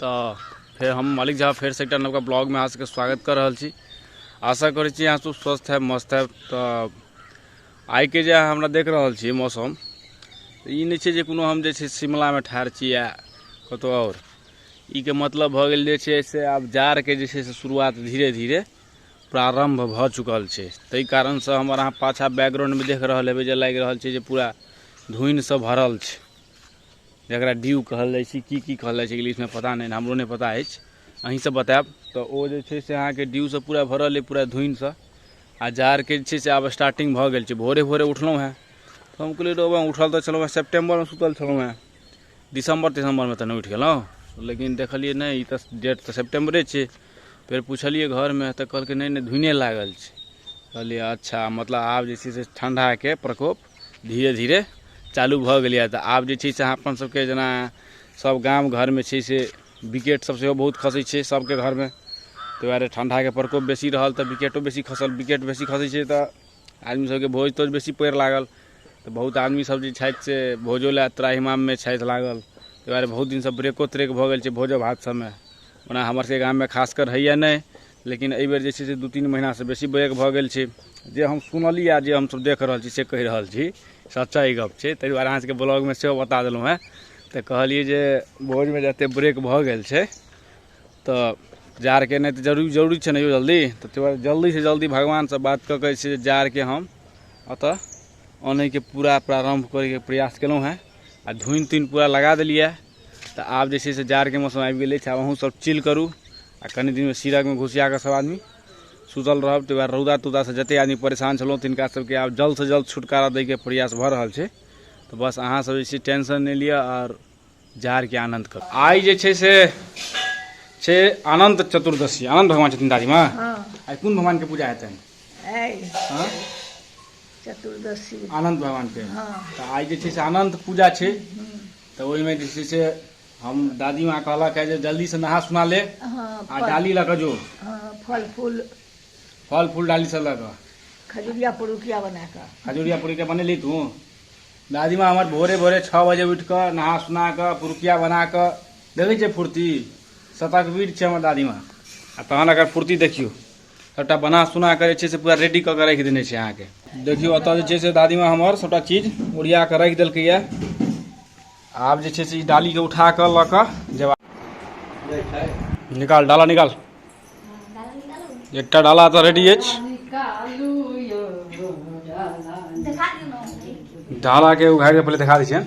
तो फिर हम मालिक झा फिर से एक नवका ब्लॉग में अहाँ सबके स्वागत कर रहल छी आशा करै छी अहाँ सब स्वस्थ है मस्त है तो आई के जे हमरा देख रहल छी मौसम तो ई नहीं छै जे कोनो हम जे छै शिमलामे ठाढ़ छी या कतौ आओर ई के मतलब भऽ गेल जे छै से आब जाड़के जे छै से शुरुआत धीरे धीरे प्रारंभ भऽ चुकल छै ताहि कारणसँ हमर अहाँ पाछा बैकग्राउंडमे देख रहल हेबै जे लागि रहल छै जे पूरा धुनिसँ भरल छै जकरा ड्यू कहल जाइ छै की की कहल जाइ छै इंग्लिशमे पता नहि हमरो नहि पता अछि अहीँसभ बतायब तऽ ओ जे छै से अहाँके ड्यूसँ पूरा भरल अइ पूरा धुनिसँ आ जाड़के जे छै से आब स्टार्टिंग भऽ गेल छै भोरे भोरे उठलहुँ हेँ तऽ हम कहलियै रहबै उठल तऽ छलहुँ हेँ सेप्टेम्बरमे सुतल छलहुँ हेँ दिसम्बर तिसम्बरमे तऽ नहि उठि गेलहुँ लेकिन देखलियै नहि ई तऽ डेट तऽ सेप्टेम्बरे छै फेर पुछलियै घरमे तऽ कहलकै नहि नहि धुने लागल छै कहलियै अच्छा मतलब आब जे छै से ठण्डाके प्रकोप धीरे धीरे चालू भऽ गेलैए तऽ आब जे छै से अहाँ अपन सबके जेना सब गाम घरमे छै से विकेट सब सेहो बहुत खसै छै सबके घरमे ताहि दुआरे ठण्डाके प्रकोप बेसी रहल तऽ विकेटो बेसी खसल विकेट बेसी खसै छै तऽ आदमी सबके भोज तोज बेसी पड़ि लागल तऽ बहुत आदमी सब जे छथि से भोजो लए त्राहिमाममे छथि लागल ताहि दुआरे बहुत दिनसँ ब्रेको त्रेक भऽ गेल छै भोजो भात सबमे ओना हमर सबके गाममे खासकर होइए नहि लेकिन एहि बेर जे छै से दू तीन महिनासँ बेसी बैग भऽ गेल छै जे हम सुनलियै आ जे हमसभ देख रहल छी से कहि रहल छी सच्चा ई गप छै ताहि दुआरे अहाँसभके ब्लॉगमे सेहो बता देलहुँ हेँ तऽ कहलियै जे भोजमे जतेक ब्रेक भऽ गेल छै तऽ जाड़के नहि तऽ जरूरी जरूरी छै ने यौ जल्दी तऽ ताहि दुआरे जल्दीसँ जल्दी भगवानसँ बात कऽ कऽ छै जाड़के हम ओतऽ अनैके पूरा प्रारम्भ करैके प्रयास केलहुँ हेँ आ धुनि तुनि पूरा लगा देलियै तऽ आब जे छै से जाड़के मौसम आबि गेल अछि आब अहूँसभ चिल करू आ कनि दिनमे सीरकमे घुसिया कऽ सभ आदमी सुतल रहब ताहि दुआरे रौदा तौदासँ जतेक आदमी परेशान छलहुँ तिनका सभके आब जल्दसँ जल्द छुटकारा दैके प्रयास भऽ रहल छै तऽ बस अहाँसभ जे छै टेंशन नहि लिअ आओर जाड़के आनन्द करू आइ जे छै से छै अनन्त चतुर्दशी अनन्त भगवान छथिन दादीमा हँ आइ कोन भगवानके पूजा हेतनि आइ हँ चतुर्दशी अनन्त भगवानके हँ। तऽ आइ जे छै से अनन्त पूजा छै तऽ ओहिमे जे छै से हम दादी माँ कहलक है जे जल्दी से नहा सुना ले हँ आ फल डाली लऽ कऽ जो हँ फल फूल फल फूल डाली से लऽ कऽ खजुरिया पुरुकिया बना कऽ खजूरिया पूरी के बनेली तू दादी माँ हमर भोरे भोरे छओ बजे उठि कऽ नहा सुना कऽ पुरुकिया बना कऽ देखै छियै फुर्ती शतकवीर छै हमर दादी माँ आ तहन एकर फुर्ती देखियौ सबटा बना सुना कऽ जे छै से पूरा रेडी कऽ कऽ राखि देने छै अहाँके देखियौ ओतऽ जे छै से दादीमा हमर सबटा चीज ओरिया कऽ राखि देलकैए आब जे छै से ई डालीके उठा कऽ लऽ कऽ जेबा निकाल डाला निकाल एकटा डाला तऽ रेडी अछि डालाके उघारि कऽ पहिले देखा दै छियनि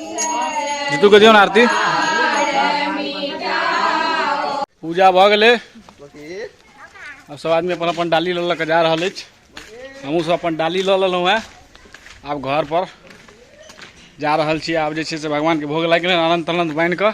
जीतू के दियो ना आरती पूजा भऽ गेलै अब सब आदमी अपन अपन डाली लऽ लऽ के जा रहल अछि हमहूँ सब अपन डाली लऽ लेलहुँ हेँ आब घर पर जा रहल छी आब जे छै से भगवानके भोग लागि गेलै आनन्द तानन्द बान्हि कऽ